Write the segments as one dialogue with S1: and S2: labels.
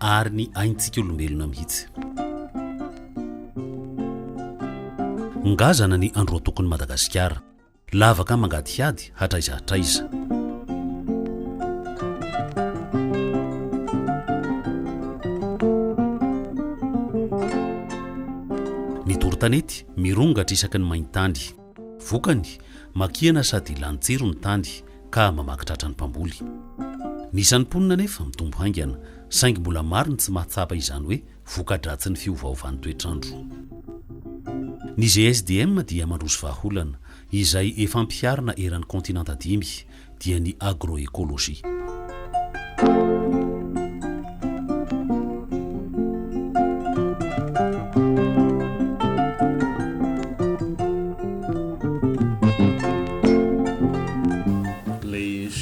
S1: ary ny aintsika olombelona mihitsy. Ngazana ny androatokon'i Madagasikara. Lavaka mangadihady hatraiza hatraiza. Ny doro-tanety mirongatra isaky ny main-tany. Vokany, makihana sady lany tsiro ny tany ka mamaky tratra ny mpamboly. Ny isan'ny mponina anefa mitombo haingana, saingy mbola maro ny tsy mahatsapa izany hoe voka-dratsin'ny fiovaovan'ny toetr'andro. Ny GSDM dia mandroso vahaolana, izay efa ampiharina eran'ny kaontinanta dimy, dia ny agroecologie.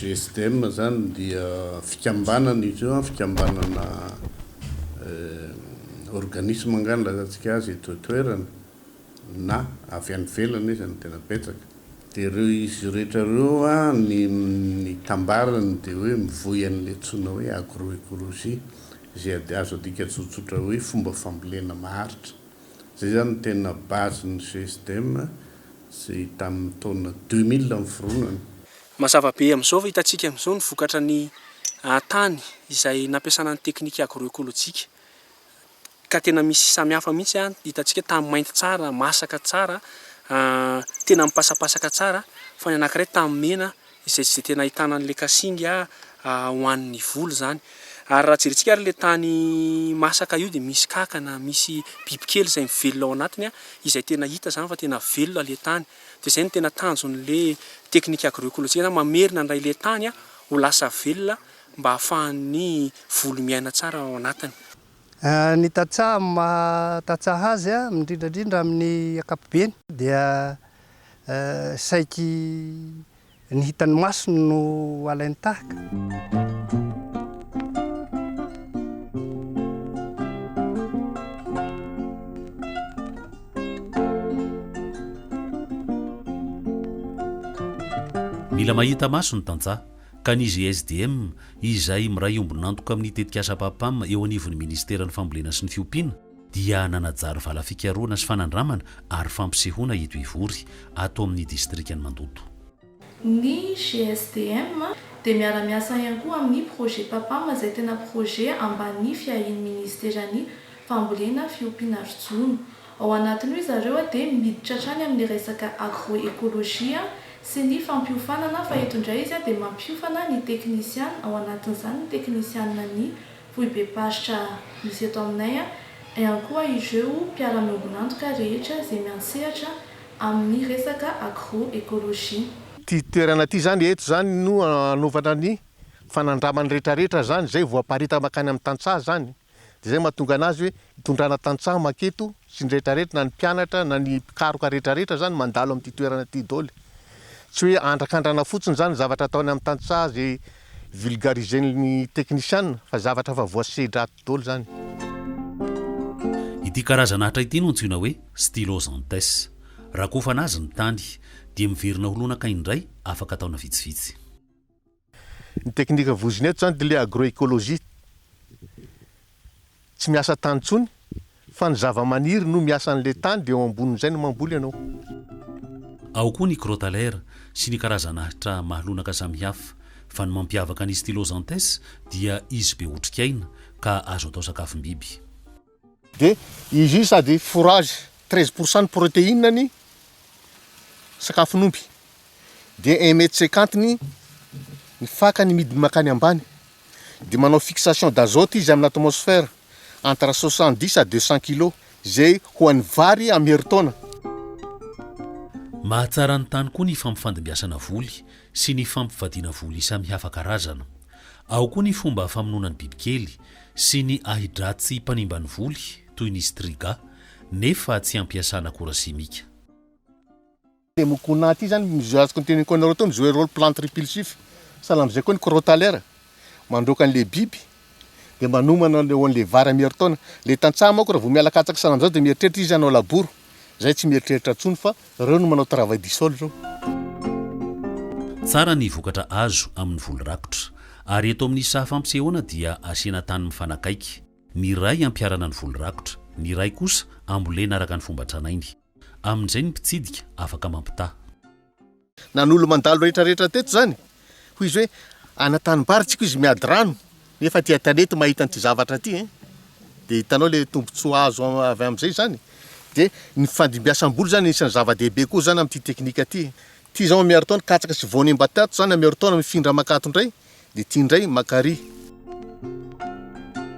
S2: GSDM zany dia fikambanana izy io, fikambanana organisme angah ny lazatsika azy eto an-toerana, na avy any ivelany aza no tena betsaka. Dia ireo izy rehetra ireo ny ny tambarany dia hoe mivoy an'ilay antsoina hoe agro-ecologie izay azo adika tsotsotra hoe fomba fambolena maharitra. Izay izany no tena base ny GSDM izay tamin'ny taona deux mille niforonany. Mazava be
S3: amin'izao fa hitantsika amin'izao ny vokatra ny tany izay nampiasana ny teknika agro-ekolojika. ka tena misy samihafa mihitsy an, hitantsika tamin'ny mainty tsara, masaka tsara, tena mipasapasaka tsara, fa ny anankiray tamin'ny mena izay izay tena ahitana an'ilay kasinga ho an'ny voly izany. Ary raha jerintsika ary ilay tany masaka io dia misy kankana, misy bibikely izay mivelona ao anatiny an, izay tena hita izany fa tena velona ilay tany. Dia izay no tena tanjon'ilay teknika agro-ekolojika na mamerina indray ilay tany an, ho lasa velona mba hahafahan'ny volo miaina tsara ao anatiny. Ny
S4: tantsaha amin'ny maha tantsaha azy, indrindra indrindra amin'ny ankapobeny, dia saiky ny hitan'ny maso no alainy tahaka.
S1: Mila mahita maso ny tantsaha. ka ny GSDM, izay miray ombon'antoka amin'ny tetikasa PAPAM eo anivon'ny Ministeran'ny Fambolena sy ny Fiompiana, dia nanajary vala fikarohana sy fanandramana ary fampisehoana eto Ivory, ato amin'ny distrikan'i Mandoto. Ny
S5: GSDM dia miara-miasa ihany koa amin'ny projet PAPAM izay tena projet ambany fiahian'ny Ministeran'ny Fambolena, Fiompiana ary Jono. Ao anatin'io izareo dia miditra hatrany amin'ny resaka agro-ekolojia sy ny fampiofanana fa eto indray izy dia mampiofana ny teknisiana, ao anatin'izany ny teknisianan'ny foibem-paritra misy eto aminay, ihany koa ireo mpiara-miombon'antoka rehetra izay miantsehatra amin'ny resaka agro-ekolojia. Ity toerana
S6: ity izany eto izany no hanaovana ny fanandramany rehetrarehetra izany izay voaparita mankany amin'ny tantsaha izany. Dia izay no mahatonga anazy hoe itondrana tantsaha maketo sy ny rehetra rehetra na ny mpianatra na ny mpikaroka rehetra rehetra izany mandalo amin'ity toerana ity doly. Tsy hoe andrakandrana fotsiny izany ny zavatra ataony amin'ny tantsaha izay vulgarisen'ny teknisiana fa zavatra efa voasedra ato doly izany.
S1: Ity karazana atra ity no antsoina hoe Stylosanthes. Rakofana azy ny tany, dia miverina ho lonaka indray afaka taona vitsivitsy.
S6: Ny teknika voizina eto izany dia ilay agroecologie. Tsy miasa tany intsony fa ny zavamaniry no miasa an'ilay tany dia eo ambonin'izay no mamboly ianao.
S1: Ao koa ny Crotalair sy ny karazan'ahitra mahalonaka samihafa, fa ny mampiavaka ny Stylosanthes dia izy be otrikaina ka azo atao sakafom-biby. Dia
S6: izy io sady fourrage, treize pour cent ny protéine ny sakafon'omby. Dia un mètre cinquante ny ny fakany midiny mankany ambany. Dia manao fixation d'azote izy amin'ny atmosphère entre soixante dix à deux cent kilos, izay ho an'ny vary amin'ny herintaona.
S1: Mahatsara ny tany koa ny fampifandimbiasana voly sy ny fampivadiana voly samihafa karazana. Ao koa ny fomba famonoana ny bibikely, sy ny ahi-dratsy mpanimba ny voly toy ny Striga nefa tsy ampiasana akora simika.
S6: Ity mokona ity izany izay azoko noteneniko anareo teo ny jouer role plante repulsif sahala amin'izay koa ny crotalair mandroaka an'ilay biby dia manomana eo an'ilay vary amin'ny herintaona. Ilay tantsaha manko raha vao miala katsaka sahala amin'izao dia mieritreritra izy hanao labour. Zay tsy mieritreritra intsony fa reo no manao travail du sol reo. Tsara
S1: ny vokatra azo amin'ny voly rakotra. Ary eto amin'ny saha fampisehoana dia asiana tany mifanakaiky. Ny iray ampiharana ny voly rakotra, ny iray kosa ambolena araka ny fomba tranainy. Amin'izay ny mpitsidika afaka mampitaha.
S6: Nanolo mandalo rehetra rehetra teto zany hoy izy hoe ana tanimbary tsiko izy miady rano nefa aty an-tanety mahita an'ity zavatra ity eh! dia hitanao le tombotsoa azo avy amin'izay zany dia ny fandimbiasam-boly zany isan'ny zava-dehibe koa zany amin'ity teknika ity ity izao miaro taona katsaka sy voany mba tato zany miaro taona mifindra makato indray dia ity indray makary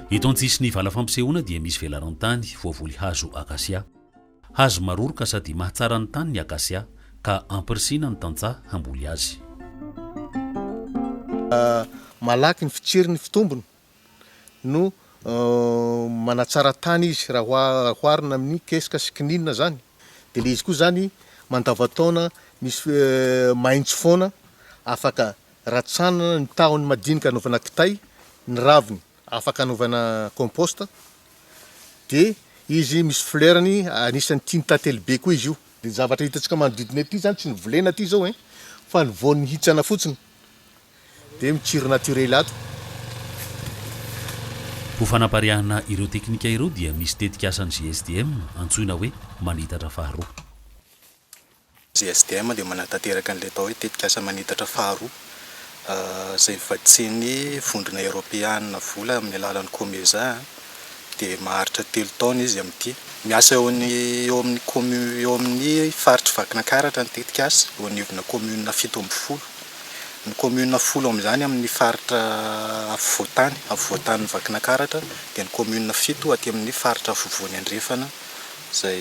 S1: Eto an-tsisin'ny vala fampisehoana dia misy velaran-tany voavoly hazo akasia. Hazo maroroka sady mahatsara ny tany ny akasia, ka ampirisihina ny tantsaha hamboly azy.
S6: Malaky ny fitsiry ny fitombony no manatsara tany izy raha oharina amin'ny kesika sy kininina izany. Dia ilay izy koa izany mandavan-taona misy mahitsy foana, afaka ratsanana ny tahony madinika anaovana kitay, ny raviny afaka anaovana compost. dia izy misy fleurny anisan'ny tian'ny tantely be koa izy io de ny zavatra hitantsika manodidina ity zany tsy ny volena ity zao ein fa ny voan'ny hitsana fotsiny de mitsiry naturely ato.
S1: Ho fanapariahana ireo teknika ireo dia misy tetik'asan'ny GSDM antsoina hoe manitatra faharoa. JSDM
S7: dia manatanteraka an'ilay atao hoe tetikasa manitatra faharoa, izay vatsian'ny Vondrona Eoropeana vola amin'ny alalan'ny Comesa, dia maharitra telo taona izy amin'ity. Miasa eo amin'ny commune eo amin'ny faritr'i Vakinakaratra ny tetikasa, eo anivona commune fito ambin'ny folo. Ny commune folo amin'izany amin'ny faritra afovoan-tany, afovoan-tanin'i Vakinakaratra, dia ny commune fito aty amin'ny faritra afovoany andrefana izay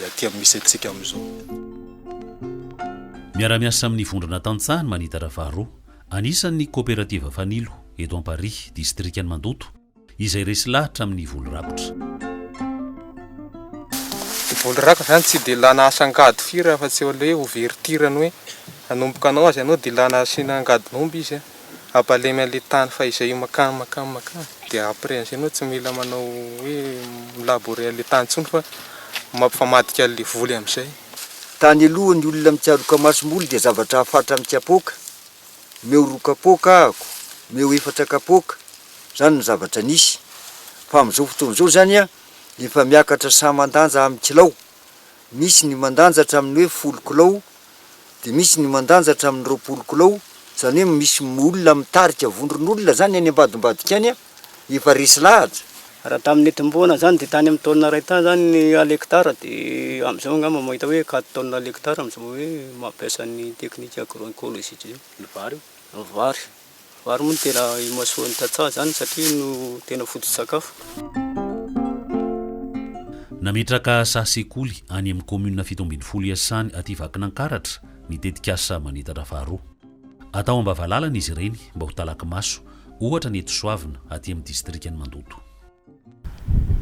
S7: aty amin'ny misy antsika amin'izao.
S1: Miara-miasa amin'ny Vondrona Tantsaha ny Manitatra faharoa. Anisany ny Koperativa Fanilo, eto Amparihy, Distrikan'i Mandoto, izay resy lahatra amin'ny voly rakotra.
S8: Ny voly rakotra izany tsy dia ilana asa angady firy afa-tsy eo aloha hoe overtir-ny hoe hanomboka hanao azy ianao dia ilana asiana angadin'omby izy. Abalemy an'ilay tany fa izay io makany makany makany dia après an'izay enao tsy mila manao hoe mi-labourer an'ilay tany intsony fa mampifamadika an'ilay voly amin'izay. Tany aloha
S9: ny olona mitsaroka masomboly dia zavatra afatra amin'ny kapoaka, omeo roa kapoaka ahako, omeo efatra kapoaka, izany no zavatra nisy. Fa amin'izao fotoana izao izany efa miakatra saha mandanja amin'ny kilao, misy ny mandanja hatramin'ny hoe folo kilao dia misy ny mandanja hatramin'ny roapolo kilao, izany hoe misy olona mitarika vondron'olona izany any ambadimbadika any an, efa resy lahatra. Raha tamin'ny
S10: nitomboana izany dia tany amin'ny taonina iray tany izany ny al hectare dia amin'izao angamba mahita hoe quatre tonnes al hectare amin'izao hoe mampiasa ny teknika agro-ecologique izao. Ny vary io? Ny vary. Vary moa no tena imasoan'ny tantsaha izany satria no tena foto-tsakafo.
S1: Nametraka saha sekoly any amin'ny kaominina fito ambin'ny folo Iasany aty Vakinankaratra ny tetikasa Manitatra faharoa. Atao am-bavalalana izy ireny mba ho talaky maso, ohatra ny eto Soavina, aty amin'ny distrikan'i Mandoto.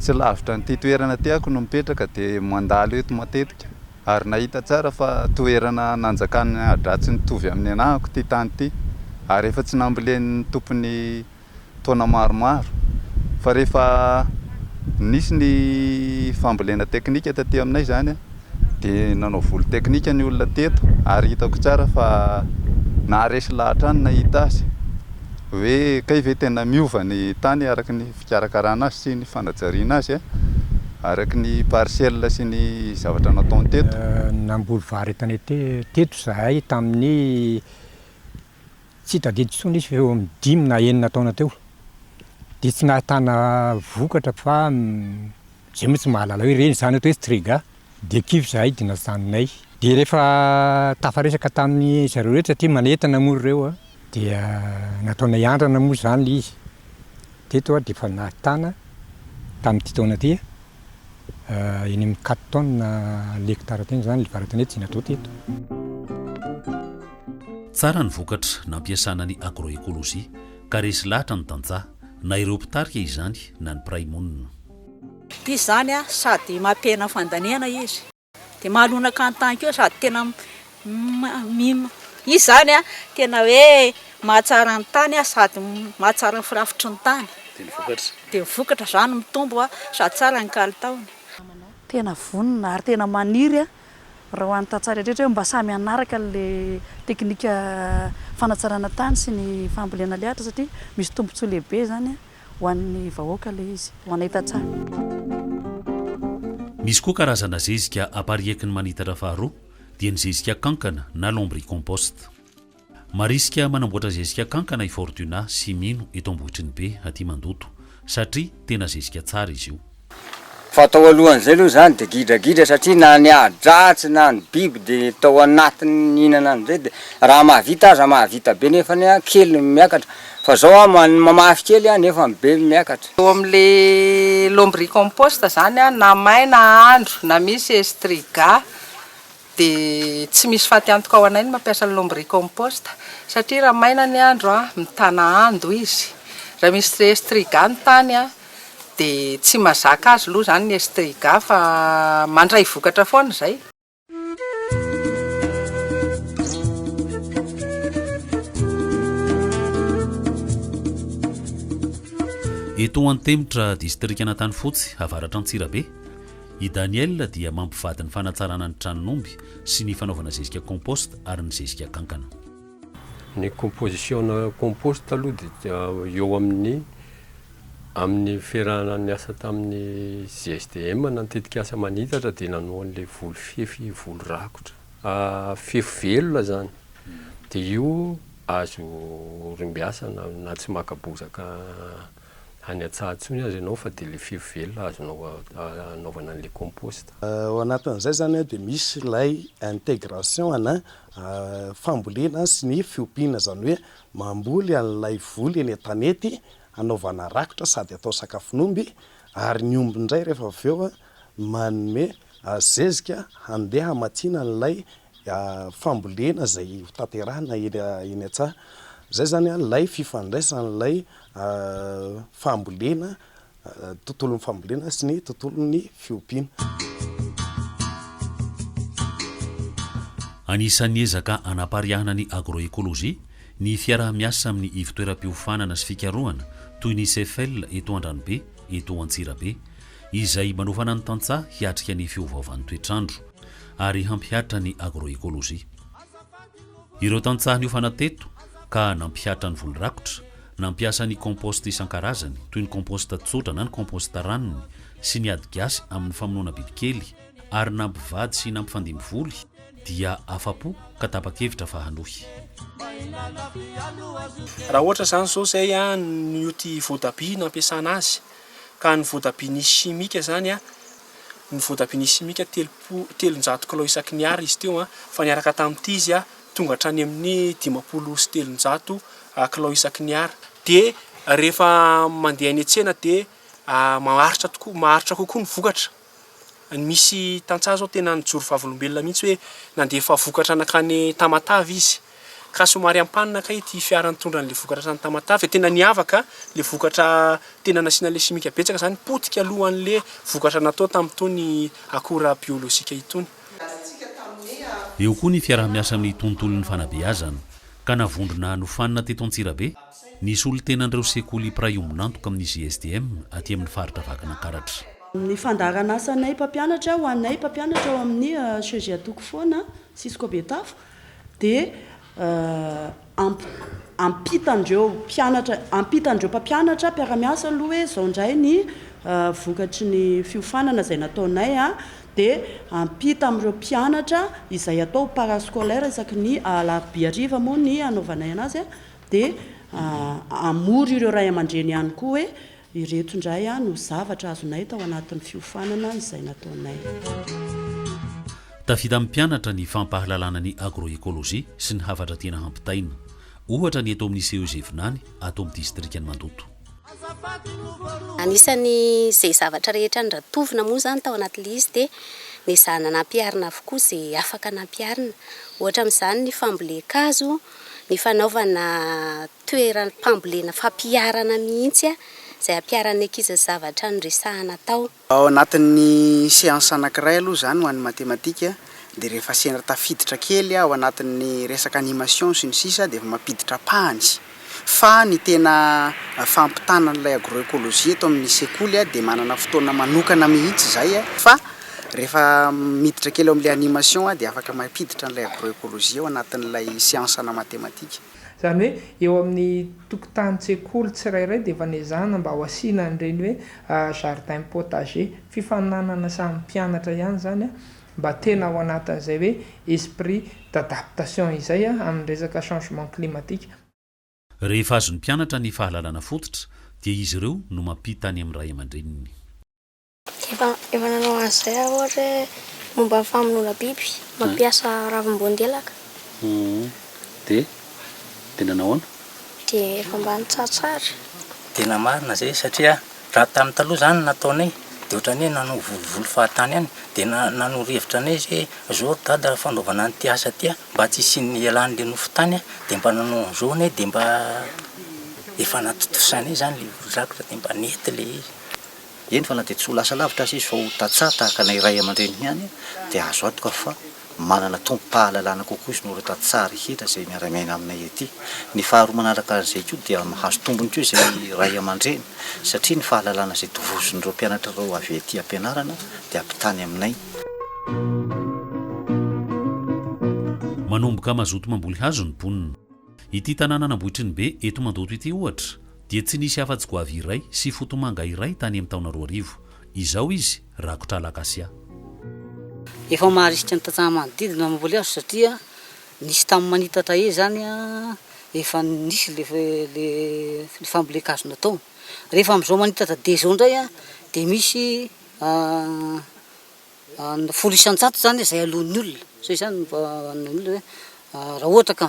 S11: Tsy lavitra an'ity toerana tiako no mipetraka dia mandalo eto matetika ary nahita tsara fa toerana nanjakan'ny adratsy nitovy amin'ny anahako ity tany ity ary efa tsy nambolen'ny tompony taona maromaro fa rehefa nisy ny fambolena teknika taty aminay izany Dia nanao volo teknika ny olona teto ary hitako tsara fa naharesy lahy hatrany nahita azy. Hoe kay ve tena miova ny tany araka ny fikarakarana azy sy ny fanajariana azy araka ny parcelle sy ny zavatra nataony teto? Namboly vary
S12: tanety teto izahay tamin'ny. Tsy tadidiko intsony izy fa eo amin'ny dimy na enina taona teo dia tsy nahatana vokatra fa izay moa tsy mahalala hoe reny izany ato hoe strega dia kivy izahay dia najanonay. Dia rehefa tafaresaka tamin'ny zareo rehetra satria manentana moa ry reo a, dia nataonay andrana moa izany ilay izy. Teto aho dia efa nahatana tamin'ity taona ity a, eny amin'ny quatre tonnes hectares teny izany ilay varatany hoe Jinato teto.
S1: Tsara ny vokatra nampiasana ny agroecologie ka resy lahatra ny tantsaha, na ireo mpitarika izany na ny mpiray monina. Ity
S13: izany sady mampihena fandaniana izy dia mahalonaka ny tany koa sady tena izy izany tena hoe mahatsara ny tany sady mahatsara ny firafitry ny tany dia ny vokatra izany mitombo sady tsara
S14: ny
S13: kalitaony.
S14: Tena
S13: vonona
S14: ary tena
S13: maniry
S14: Raha ho an'ny tantsaha rehetra hoe mba samy hanaraka ilay teknika fanatsarana tany sy ny fambolena lehatra satria misy tombontsoa lehibe izany ho an'ny vahoaka ilay izy, ho anay tantsaha.
S1: Misy koa karazana zezika apariaky ny manitatra faharoa dia ny zezika kankana na lombricompost. Marisika manamboatra zezika kankana i Fortuna sy Mino eto Ambohitrinibe aty Mandoto satria tena zezika tsara izy io. Fa tao
S15: alohan'izay aloha izany dia gidragidra satria na ny ahi-dratsy na ny biby dia tao anatiny nihinana an'izay dia raha mahavita aza mahavita be nefany an kely ny miakatra fa izao an mamafy kely an nefa ny be miakatra. Eo amin'ilay
S16: lombricompost izany an na maina andro na misy estriga dia tsy misy faty antoka ho anay ny mampiasa ny lombricompost satria raha maina ny andro mitana ando izy, raha misy estriga ny tany dia tsy mazaka azy aloha izany ny estriga fa mandray vokatra foana izay.
S1: Eto Antemitra, distrikan'Antanifotsy, avaratra Antsirabe. I Daniel dia mampivady ny fanatsarana ny tranon'omby sy ny fanaovana zezika compost ary ny zezika kankana. Ny
S17: composition-na compost aloha dia eo amin'ny amin'ny niferahana niasa tamin'ny GSDM na ny tetikasa manitatra dia nanao an'ilay voly fefy voly rakotra fefy velona izany dia io azo orimbiasana na tsy maka bozaka any Antsahatsony aza ianao fa dia ilay fefy velona azonao anaovana an'ilay compost. Ao anatin'izay
S18: izany dia misy ilay intégration ana fambolena sy ny fiompiana, izany hoe mamboly an'ilay voly eny an-tanety hanaovana rakotra sady atao sakafon'omby ary ny omby indray rehefa avy eo manome zezika handeha hamatsiana an'ilay fambolena izay ho tanterahina eny an-tsaha. Izay izany ilay fifandraisan'ilay fambolena, tontolon'ny fambolena sy ny tontolon'ny fiompiana.
S1: Anisan'ny ezaka hanapariahana ny agroécologie ny fiaraha-miasa amin'ny ivontoeram-piofanana sy fikarohana toy ny CEFEL eto Andranobe, eto Antsirabe, izay manofana ny tantsaha hiatrika ny fiovaovan'ny toetr'andro. ary hampihatra ny agroekolojia. Ireo tantsaha niofana teto ka nampihatra ny voly rakotra, nampiasa ny compost isan-karazany, toy ny compost tsotra na ny compost ranony, sy ny ady gasy amin'ny famonoana bibikely, ary nampivady sy nampifandimby voly, dia afa-po ka tapa-kevitra fa hanohy.
S3: Raha ohatra izany izao izay an, ny oty voatabia nampiasana azy, ka ny voatabia nisy chimique izany an, ny voatabia simika telopolo, telonjato kilao isaky ny Ar izy teo fa niaraka tamin'ity izy tonga hatrany amin'ny dimampolo sy telonjato kilao isaky ny Ar. Dia rehefa mandeha any an-tsena dia maharitra tokoa, maharitra kokoa ny vokatra. Ny misy tantsaha izao tena nijoro vavolombelona mihitsy hoe nandefa vokatra nankany Tamatave izy. Ka somary ampanina kay ity fiara nitondra an'le vokatra tany Tamatave fa tena niavaka le vokatra tena nasiana le simika betsaka zany potika aloha an'le vokatra natao tamin'itony akora biolojika itony.
S1: Eo koa ny fiaraha-miasa amin'ny tontolon'ny fanabeazana, ka navondrona nofanina teto Antsirabe ny solontenan'ireo sekoly mpiray ombon'antoka amin'ny GSDM aty amin'ny faritra Vakinankaratra. Ny
S14: fandaharan'asanay mpampianatra ho anay mpampianatra ao amin'ny CGA Toko Foana, Cisco Betafo, dia ampitan'ireo mpianatra, ampitan'ireo mpampianatra mpiara-miasa aloha hoe izao indray ny vokatry ny fiofanana izay nataonay an, dia ampita amin'ireo mpianatra izay atao ho parascolaire isaky ny alarobia hariva moa ny hanaovanay anazy an, dia hamory ireo ray aman-dreny ihany koa hoe Ireto indray no zavatra azonay tao anatin'ny fiofanana izay nataonay.
S1: Tafita amin'ny mpianatra ny fampahalalana ny agroecologie sy ny hafatra tiana hampitaina. Ohatra ny eto amin'ny CEG Vinany, ato amin'ny distrikan'i Mandoto.
S19: Anisan'izay zavatra rehetra norantovina moa izany tao anatin'ilay izy dia nezahana nampiharina avokoa izay afaka nampiharina. Ohatra amin'izany ny fambolen-kazo. ny fanaovana toeram-pambolena fampiharana mihitsy izay hampiharan'ny ankizy zavatra noresahana tao. Ao anatin'ny
S20: seansa anankiray aloha izany ho an'ny matematika dia rehefa sendra tafiditra kely ao anatin'ny resaka animation sy ny sisa dia efa mampiditra pahany fa ny tena fampitana an'ilay agroecologie eto amin'ny sekoly dia manana fotoana manokana mihitsy izay fa Rehefa miditra kely ao amin'ilay animation aho dia afaka mampiditra an'ilay agroecologie ao anatin'ilay siansa ana matematika. Izany hoe
S21: eo amin'ny tokotanin-tsekoly tsirairay dia efa nezahina mba ho asiana an'ireny hoe jardin potager. Fifaninanana samy mpianatra ihany izany mba tena ao anatin'izay hoe esprit d'adaptation izay amin'ny resaka changement climatique. Rehefa
S1: azon'ny mpianatra ny fahalalana fototra dia izy ireo no mampita any amin'ny ray aman-dreniny. Efa
S22: efa nanao an'izay aho ohatra hoe momba ny famonoana biby, mampiasa ravim-boandelaka. Dia?
S1: Dia nanao ahoana? Dia efa mba
S22: nitsatsara. Tena
S23: marina izay satria raha tamin'ny taloha izany ny nataonay dia ohatran'ny hoe nanao volovolo fahatany ihany. Dia na- nanoro hevitra anay izy hoe izao ry dada raha fanaovana an'ity asa ity mba tsy hisian'ny hialan'ilay nofo tany an, dia mba nanao an'izao anay dia mba efa natontosanay izany ilay olon-drakitra dia mba nety ilay izy. eny fa na dia
S24: tsy ho lasa lavitra aza izy fa ho tantsaha tahaka anay ray aman-dreniny ihany dia azo antoka fa manana tompom-pahalalana kokoa izy noho ireo tantsaha rehetra izay miara-miaina aminay ety. Ny faharoa manaraka an'izay koa dia mahazo tombony koa izay ray aman-dreny satria ny fahalalana izay tovozon'ireo mpianatra ireo avy ety am-pianarana dia ampitany aminay.
S1: Manomboka mazoto mamboly hazo ny mponina. Ity tanànan'Ambohitrinibe eto Mandoto ity ohatra dia tsy nisy afa-tsy goavy iray sy fotomanga iray tany amin'ny taona roa arivo. Izao izy rakotra alakasia.
S25: Efa maharisika ny tantsaha manodidina ny mamboly azy satria nisy tamin'ny manitatra ey zany efa nisy le fambolen-kazo natao. Rehefa amin'izao manitatra de zao ndray dia misy ny folo isan-jato zany izay aloan'ny olona, so izany no vahaolana hoe raha ohatra ka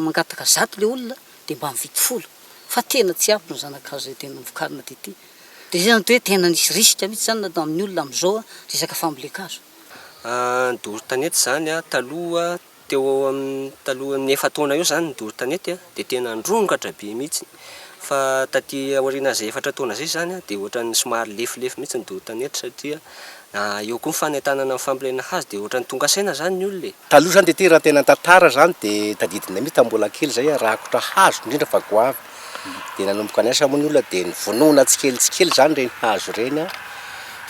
S25: mangataka zato le olona de mba mividy folo fa tena tsy ampy ny zanakazo zay tena vokarina de ty de zay zany de hoe tena nisy risque mitsy zany nataon'ny olona amzao resaka fambolen-kazo. Ny
S26: doro tanety zany taloha Teo ho eo amin'ny talohan'ny efa-taona eo izany ny doro tanety dia tena nirongatra be mihitsy. Fa taty aoriana izay efatra taona izay izany dia ohatran'ny somary lefilefy mihitsy ny doro tanety satria eo koa ny fanentanana ny fambolena hazo dia ohatran'ny tonga saina izany ny olona e! Taloha izany dia ity raha tena
S18: tantara izany dia tadidinay mihitsy tamin'ny mbola kely izay rakotra hazo indrindra fa goavy dia nanomboka niasa moa ny olona dia nivonona tsikelikely tsikelikely izany ireny hazo ireny an,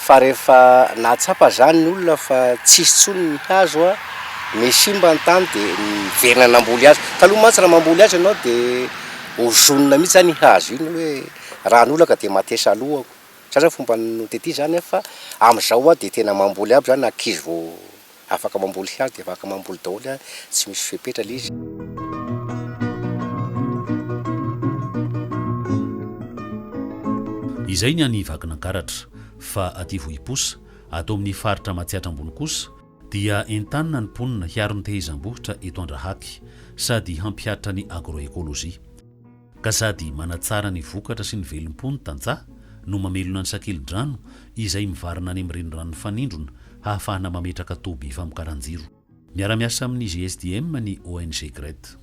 S18: fa rehefa nahatsapa izany ny olona fa tsy hisy intsony ny hazo an, me simba ny tany dia niverina namboly hazo, taloha mantsy raha mamboly hazo ianao dia ozonina mihintsy izany iny hazo iny hoe raha ny olona ka dia matesa alohako, zay izany fomba notetezany an, fa amin'izao an dia tena mamboly aby izany ankizy vao Afaka mamboly hazo dia afaka mamboly daholo a, tsy misy fepetra le izy.
S1: Izay ny any Vakinankaratra. Fa aty Vohiposa, ato amin'ny faritra Matsiatra Ambony kosa, dia entanina ny mponina hiaro ny tehezam-bohitra eto Andrahaky, sady hampihatra ny agro-écologie. Ka sady manatsara ny vokatra sy ny velom-po ny tantsaha no mamelona ny sakeli-drano izay mivarina any amin'ny renirano mifanindrona hahafahana mametraka toby famokaran-jiro. Miara-miasa amin'ny GSDM ny ONG Gret.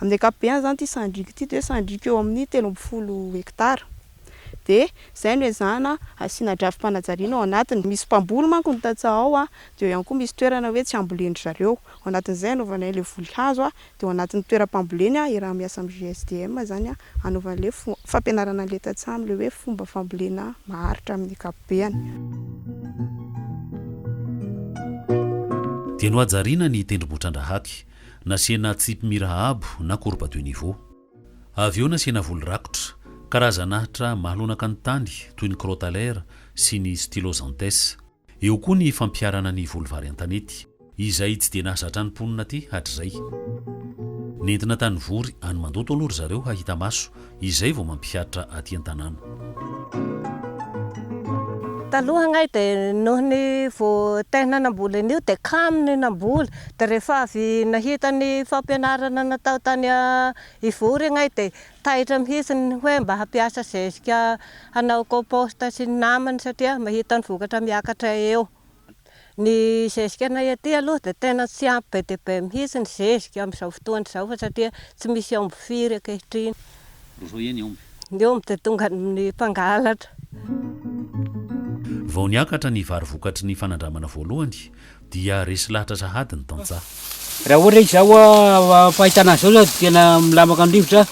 S1: Amin'ny
S27: ankapobeny izany ity sandriko ity dia hoe sandriko eo amin'ny telo ambin'ny folo hektara. Dia izay no ezahana hasiana drafi-panajariana ao anatiny. Misy mpamboly manko ny tantsaha ao dia eo ihany koa misy toerana hoe tsy ambolen-dry zareo. Ao anatin'izay anaovanay ilay voly hazo Dia ao anatin'ny toeram-pamboleny i raha miasa amin'ny GSDM izany hanaovana ilay fampianarana an'ilay tantsaha amin'ilay hoe fomba fambolena maharitra amin'ny ankapobeny.
S1: Dia nohajariana ny tendrombohitrandrahàty, nasiana tsipy mira abo na courbe de niveau. Avy eo nasiana voly rakotra, karazan'ahitra mahalonaka ny tany toy ny crotalaire sy ny styloxanthes. Eo koa ny fampiharana ny voly vary an-tanety, izay tsy dia nahazatra ny mponina aty hatrizay. Nentina tany Vory, any Mandoto aloha ry zareo hahita maso, izay vao mampihatra aty an-tanàna.
S28: Taloha angahy dia noho ny vao tehina namboly an'io dia kamo ny namboly, dia rehefa avy nahita ny fampianarana natao tany Ivory angahy dia Taitra mihitsy ny hoe mba hampiasa zezika hanao compost sy ny namany satria mahita ny vokatra miakatra eo. Ny zezikanay aty aloha dia tena tsy ampy be dia be mihitsy ny zezika amin'izao fotoana izao fa satria tsy misy omby firy ankehitriny. Roa eo ny
S1: omby. Ny omby dia tonga
S28: amin'ny mpangalatra.
S1: Vao niakatra ny vary vokatry ny fanandramana voalohany, dia resy lahatra sahady ny tantsaha. Raha ohatra izaho
S29: fahitana azy izao tena milamaka ny rivotra,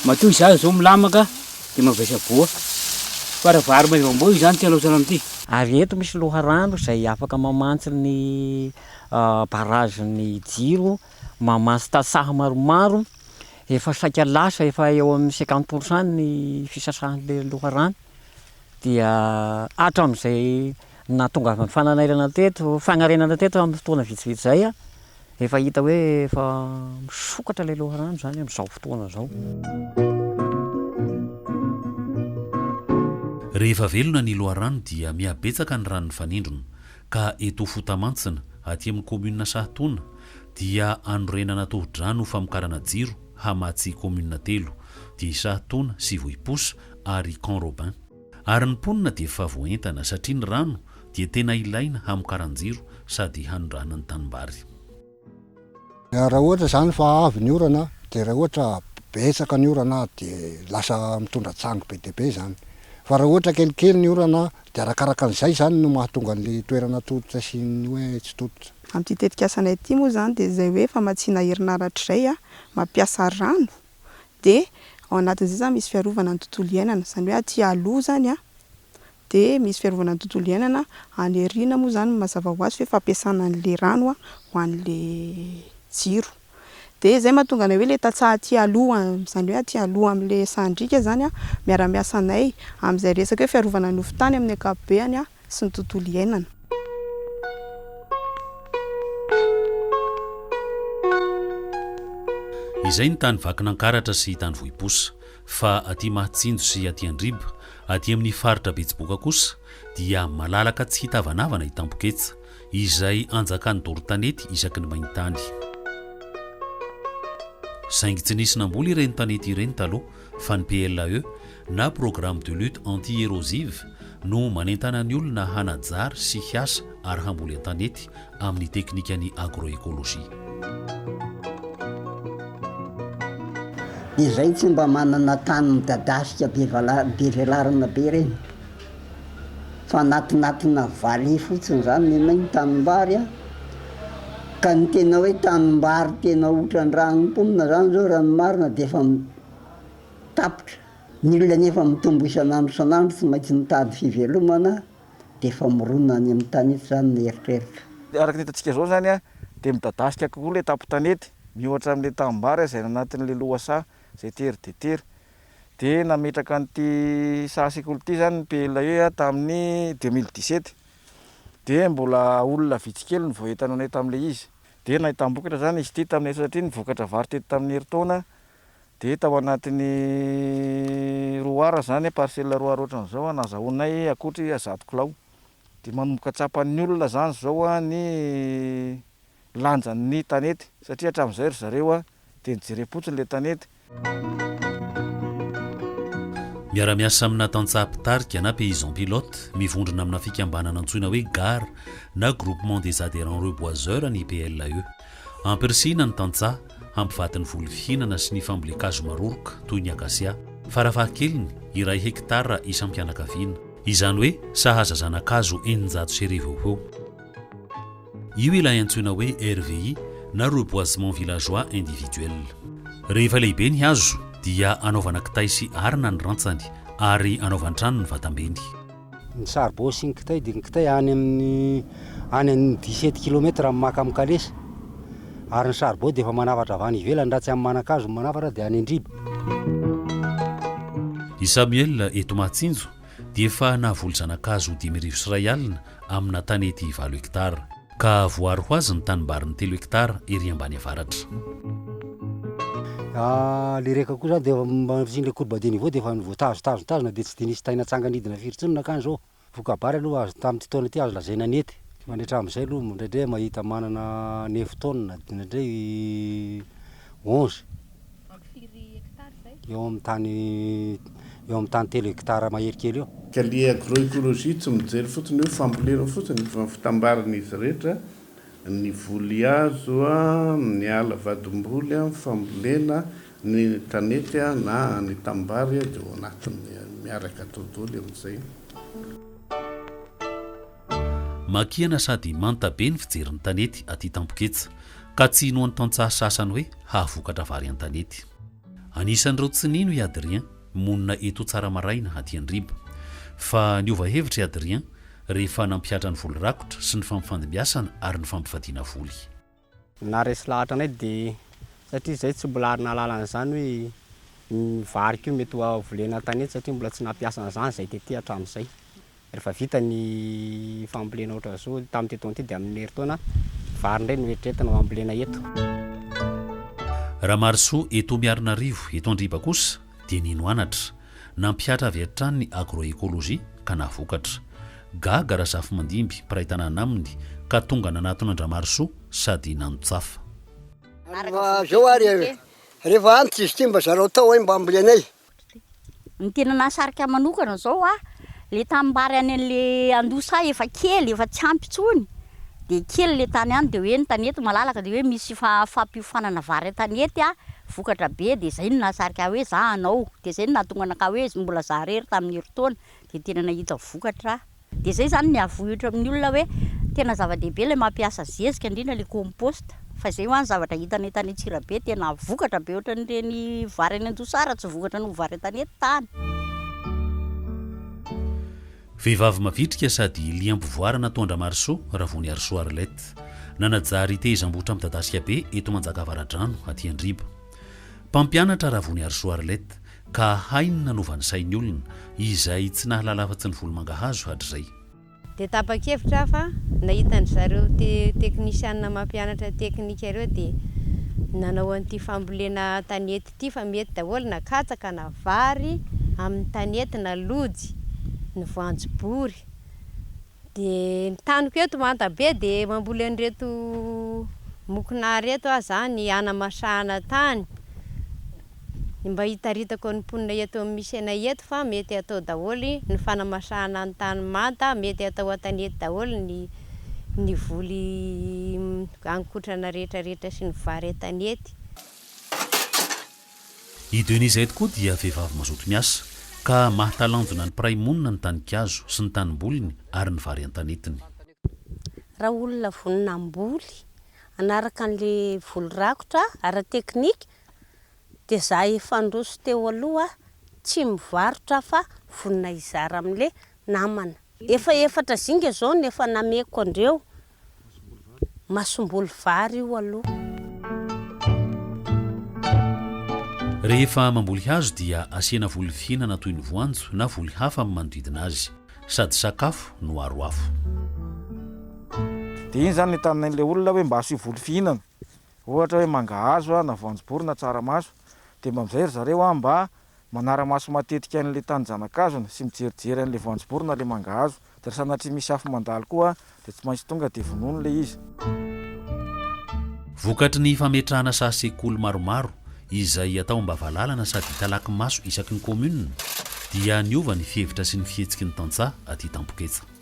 S29: matoa izaho izao milamaka dia mavesa voa fa raha vary maivamboa io izany tsy halaosana amin'ity. Ary
S2: eto misy loharano izay afaka mamantsy ny barrage ny jiro, mamantsy tantsaha maromaro, efa saika lasa efa eo amin'ny cinquante pour cent ny fisasahan'ilay loharano. dia hatramin'izay nahatongavan'ny fananarana teto, fanarenana teto amin'ny fotoana vitsivitsy izay, efa hita hoe efa misokatra ilay loharano izany amin'izao fotoana izao.
S1: Rehefa velona ny loharano dia mihabetsaka ny ranon'ny fanindrona, ka eto Fotamantsina, aty amin'ny kaominina Sahatoana, dia anorenana tohodrano famokarana jiro hamatsy kaominina telo, dia i Sahatoana sy Vohiposa, ary Camp Robin. Ary ny mponina dia efa voaentana satria ny rano dia tena ilaina hamokaran-jiro sady hanondrana ny tanimbary.
S4: Raha ohatra izany fa avy ny orana dia raha ohatra betsaka ny orana dia lasa mitondra tsangy be dia be izany. Fa raha ohatra kelikely ny orana dia arakaraka an'izay izany no mahatonga an'ilay toerana tototra sy ny hoe tsy tototra. Amin'ity tetikasanay
S27: ity moa izany dia izay hoe famatsiana herinaratra izay, mampiasa rano dia ao anatin'izay izany misy fiarovana ny tontolo iainana, izany hoe aty aloha izany an, dia misy fiarovana ny tontolo iainana, any aoriana moa izany mazava ho azy fa hoe fampiasana an'ilay rano an, ho an'ilay jiro. Dia izay no mahatonga anay hoe ilay tantsaha aty aloha, izany hoe aty aloha amin'ilay sahan-driaka izany an, miara-miasa anay amin'izay resaka hoe fiarovana ny hofon-tany amin'ny ankapobeny an, sy ny tontolo iainana.
S1: Izay ny tany Vakinankaratra sy tany Vohiposa. Fa aty Mahatsinjo sy aty Andriba, aty amin'ny faritra Betsiboka kosa dia malalaka tsy hitavanavana i Tampoketsa, izay anjakan'ny doro tanety isaky ny main-tany. Saingy tsy nisy namboly ireny tanety ireny taloha. fa ny PLAE na Programme de Lutte Anti-Érosive no manentana ny olona hanajary sy hiasa ary hamboly an-tanety amin'ny teknikan'ny agro-écologie.
S5: Izay tsy mba manana tany midadasika be velarana be ireny. fa anatinatina valiha fotsiny zany nenay ny tanimbary a, ka ny tena hoe tanimbary tena otran-drano mponina zany zao raha ny marina dia efa tapitra, ny olona nefa mitombo isan'andro isan'andro tsy maintsy mitady fivelomana dia efa mirona any amin'ny tanety zany ny eritreritra. Araka ny hitantsika zao
S6: zany a, dia midadasika kokoa le tampon-tanety, miohatra amin'le tanimbary zay anatin'le lohasaha zay tery dia tery, dia nametraka an'ity saha sekoly ity izany ny PLE tamin'ny deux mille dix sept dia mbola olona vitsy kely no vao entanao nay tamin'ilay izy dia nahitam-bokatra izany izy ity tamin'ny satria ny vokatra vary teto tamin'ny herintaona dia tao anatin'ny roa ar izany parcelle roa ar ohatran'izao no azahoanay akoatry zato kilao dia manomboka tsapan'ny olona izany izao ny lanjan'ny tanety satria hatramin'izay ry zareo dia nijereko fotsiny ilay tanety.
S1: Miara-miasa amina tantsaha mpitarika na paysan pilote mivondrona amina fikambanana antsoina hoe gar na Groupement des Adhérents Reboiseurs ny PLAE. Ampirisihina ny tantsaha hampivady ny voly fihinana sy ny fambolen-kazo maroroka toy ny akasia, farafahakeliny iray hekitara isam-pianakaviana. Izany hoe sahaza zana-kazo eninjato sy arivo eo ho eo. Io ilay antsoina hoe RVI na Reboisement Villageois Individuel. Rehefa lehibe ny hazo dia anaovana kitay sy arina ny rantsany ary anaovan-trano ny vatambeny. Ny
S4: saribao sy ny kitay dia ny kitay any amin'ny any amin'ny dix sept kilomètre amin'ny maka amin'ny kalesa ary ny saribao dia efa manafatra avy any ivelany raha tsy amin'ny manan-kazo ny manafatra dia any an-driba.
S1: I Samuel eto Mahatsinjo dia efa nahavoly zanakazo dimy arivo sy iray alina amina tanety valo hektara. Ka voaro ho azy ny tanimbariny telo hektara ery ambany avaratra.
S4: Ilay reka koa izany dia efa mandritrin'ilay courbe de niveau dia efa voatazo, tazo, tazona dia tsy dia nisy taina tsanga nidina firy intsony nankany izao. Voka-bary aloha azo tamin'ity taona ity azo lazaina nety. Mandritra amin'izay aloha indraindray mahita manana neuf tonnes, indraindray onze. eo amin'ny tany eo amin'ny tany telo hectare mahery kely eo. Ka le agroecologie
S7: tsy mijery fotsiny hoe fambolena fotsiny fa fitambaran'izy rehetra, ny voly azo, ny ala vadim-boly, ny fambolena, ny tanety na ny tanimbary dia ao anatiny miaraka dodooly amin'izay.
S1: Makiana sady manta be ny fijery ny tanety aty Tampoketsa, ka tsy inoan'ny tantsaha sasany hoe hahavokatra vary an-tanety. Anisan'ireo tsy nino i Adrien, monina eto Tsaramaraina, aty Andriba. Fa niova hevitra i Adrien, rehefa nampihatra ny voly rakotra sy ny fampifandimbiasana ary ny fampivadiana voly. Naharesy
S8: lahatra anay dia satria izahay tsy mbola ary nahalala an'izany hoe ny varika io mety ho volena tanety satria mbola tsy nampiasa an'izany izahay tety hatramin'izay. Rehefa vita ny fambolena ohatran'izao tamin'ity taona ity dia amin'ny herintaona vary indray no eritreretina ho ambolena eto.
S1: Ramarisoa, Eto Miarinarivo, eto Andriba kosa dia nino anatra. Nampihatra avy hatrany ny agroecologie ka nahavokatra. Gaga Razafimandimby, mpiray tanàna aminy, ka tonga nanatona an-dRamarisoa sady nanotsafa. Mba
S9: zao ary e! Rehefa any tsy izy ity mba zarao tao hay mba ambolenay.
S10: Ny tena nahasarika ahy manokana izao a, Le tanimbary any anle andosa efa kely efa tsy ampy intsony de kely le tany any de hoe ny tanety malalaka de hoe misy fampiofanana vary an-tanety a vokatra be de zay no nahasarika ahy hoe za hanao de zay no nahatonga anakahy hoe mbola za rery tamin'ny herintaona de tena nahita vokatra aho de zay zany ny havohitra amin'ny olona hoe tena zava-dehibe le mampiasa zezika indrindra le compost. Fa izay hoa ny zavatra hitanay tany Antsirabe, tena vokatra be ohatran'ireny vary any Anjosara, tsy vokatra noho vary an-tanety tany.
S1: Vehivavy mavitrika sady liam-pivoarana toa an-dRamarisoa, Ravoniarisoa Arlette. Nanajary tehezam-bohitra midadasika be eto Manjakavaradrano, aty Andriba. Mpampianatra Ravoniarisoa Arlette, ka hainy nanova ny sain'ny olona, izay tsy nahalala afa-tsy ny volomangahazo hatrizay. Dia
S11: tapa-kevitra aho fa nahita an-dry zareo teknisianina mampianatra teknika ireo dia nanao an'ity fambolena tanety ity fa mety daholo na katsaka na vary amin'ny tanety na lojy ny voanjobory. Dia ny taniko eto Mantabe dia mamboly an'ireto mokonà ireto aho izany hanamasahana tany. ny mba hitaritako ny mponina eto amin'ny Misena eto fa mety atao daholo ny fanamasahana ny tany manta, mety atao an-tanety daholo ny ny voly haninkotrana rehetrarehetra sy ny vary an-tanety.
S1: I Denise eto koa dia vehivavy mazoto miasa ka mahatalanjona ny mpiray monina ny tanikazo sy ny tanimboliny ary ny vary an-tanetiny.
S28: Raha olona vonona hamboly hanaraka an'ilay voly rakotra ara-teknika Dia za efa ndroso teo aloha tsy mivarotra fa vonona hizara amle namana. Efa efatra zinga zao no efa nameko andreo, masomboly vary io aloha.
S1: Rehefa mamboly hazo dia asiana voly fihinana toy ny voanjo na voly hafa amin'ny manodidina azy. Sady sakafo no aro afo.
S6: Dia iny izany no entanin'ilay olona hoe mba asio voly fihinana. ohatra hoe mangahazo na voanjobory na tsaramaso, dia mba amin'izay ry zareo mba manara-maso matetika an'ilay tany zanakazony sy mijerijery an'ilay voanjobory na ilay mangahazo, dia raha sanatria misy afo mandalo koa dia tsy maintsy tonga dia vonoiny ilay izy.
S1: Vokatry ny fametrahana saha sekoly maromaro izay atao mba valalana sady hitalaky maso isaky ny kaominina dia niova ny fihevitra sy ny fihetsiky ny tantsaha aty Tampoketsa.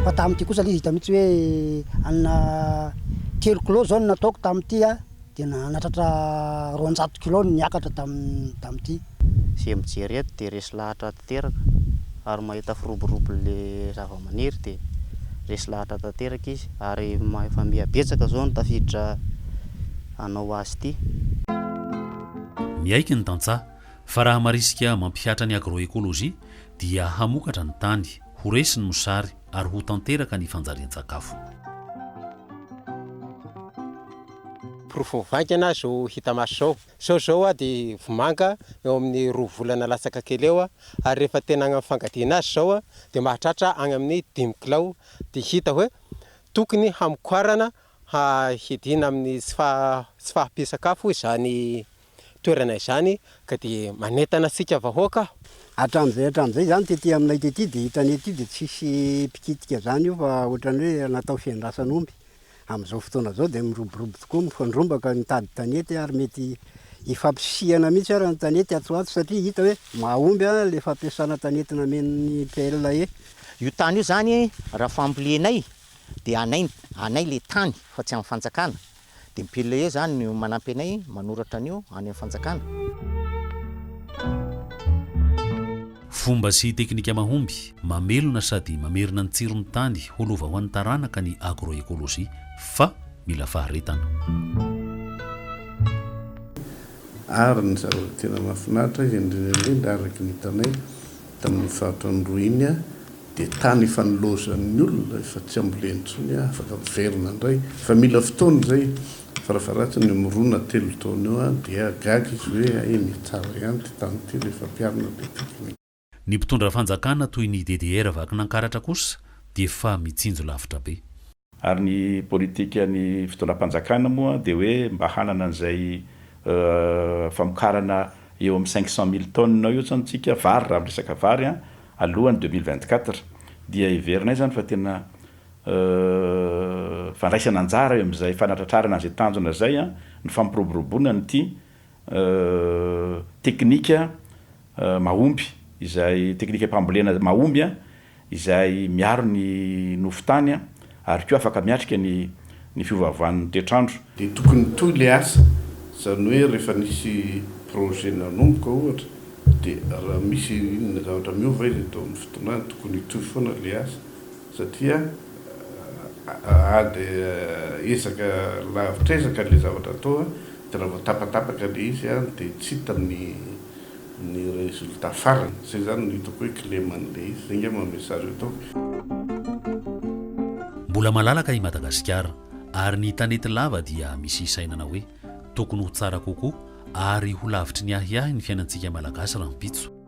S9: Fa tamin'ity kosa ilay izy hita mihitsy hoe hanina telo kilao izao no nataoko tamin'ity a, dia nahatratra roanjato kilao no niakatra tamin'ny tamin'ity. Izay
S12: mijery eto dia resy lahatra tanteraka ary mahita firoborobo ilay zavamaniry dia resy lahatra tanteraka izy ary efa miha betsaka izao ny tafiditra hanao azy ity. Miaiky
S1: ny tantsaha fa raha marisika mampihatra ny agroecologie Dia hamokatra ny tany, ho resy ny mosary, ary ho tanteraka ny fanjarian-tsakafo.
S13: Porofo vaingana zo hita maso zao. Sao izao aho dia vomanga eo amin'ny roa volana latsaka kely eo ary rehefa tena agnamy fangadiana azy izao dia mahatratra agny amin'ny dimy kilao dia hita hoe tokony hamokoarana hahidina amin'ny tsy fahampian-tsakafo izany toerana izany ka dia manentana antsika vahoaka aho. Hatramin'izay hatramin'izay
S9: izany tety aminay tety dia hitanay ety dia tsy hisy mpikitika izany io fa ohatran'ny hoe natao fiandrasan'omby. Amin'izao fotoana izao dia miroborobo tokoa, mifandrombaka mitady tanety ary mety hifampisihana mihitsy ary ny tanety atsy ho atsy satria hita hoe mahomby ilay fampiasana tanety namen'ny PLAE. Io tany io
S24: izany raha fambolenay dia anay anay ilay tany fa tsy an'ny fanjakana. Dia ny pile eo izany no manampy anay manoratra an'io any amin'ny fanjakana.
S1: Fomba sy teknika mahomby, mamelona sady mamerina ny tsiron'ny tany ho lova ho an'ny taranaka ny agroecologie fa mila faharetana.
S7: Ary ny zavatra tena mahafinaritra indrindra indrindra araka ny hitanay Tamin'iny faritra Androy iny dia tany efa nilaozan'ny olona, efa tsy ambolen intsony, afaka miverina indray fa mila fotoana izay, farafaharatsiny mirona telo taona eo dia gaga izy hoe hay ny tsara ihany ity tany ity rehefa ampiharina be tiko ny. Ny mpitondra
S1: fanjakana toy ny DDR vakin'Ankaratra kosa dia efa mitsinjo lavitra be. Ary ny
S3: politikan'ny fitondram-panjakana moa dia hoe mba hanana an'izay famokarana eo amin'ny cinq cent mille tonnes eo izany tsika vary raha miresaka vary an, alohan'ny deux mille vingt quatre dia heverinay izany fa tena fandraisana anjara eo amin'izay fanatratrarana an'izay tanjona izay ny fampiroboroboana an'ity teknika mahomby izay teknikam-pambolena mahomby izay miaro ny nofo tany ary koa afaka miatrika ny ny fiovaovan'ny toetr'andro. Dia tokony hitohy
S7: ilay asa, izany hoe rehefa nisy projet nanomboka ohatra dia raha misy inona zavatra miova izy atao amin'ny fotoanany tokony hitohy foana ilay asa. satria ady ezaka lavitr'ezaka ilay zavatra atao dia raha vao tapatapaka ilay izy dia tsy hita ny ny résultat farany, izay izany no hitako hoe kileman'ilay izy, izay ngamba message ataoko.
S1: Mbola malalaka i Madagasikara ary ny tanety lava dia misy hisainana hoe tokony ho tsara kokoa ary ho lavitry ny ahiahy ny fiainantsika Malagasy rahampitso.